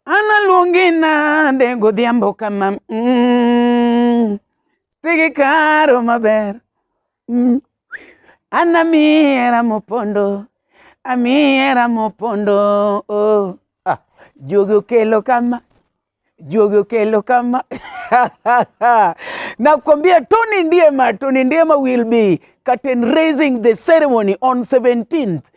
Analuongi nade godhiambo kama mm, tigi karo maber mm. Anamiera mopondo amiera mopondo oh. ah, juogi okelo kama juogi okelo kama nakwambia Tony Ndiema, Tony Ndiema will be curtain raising the ceremony on 17th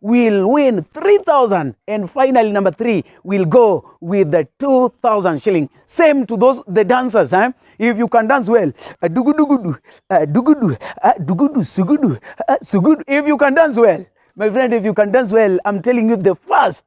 will win 3000 and finally number 3 will go with the 2000 shilling same to those the dancers eh? if you can dance well uh, dugudugudu uh, dugudu uh, dugudu sugudu uh, sugudu if you can dance well my friend if you can dance well i'm telling you the first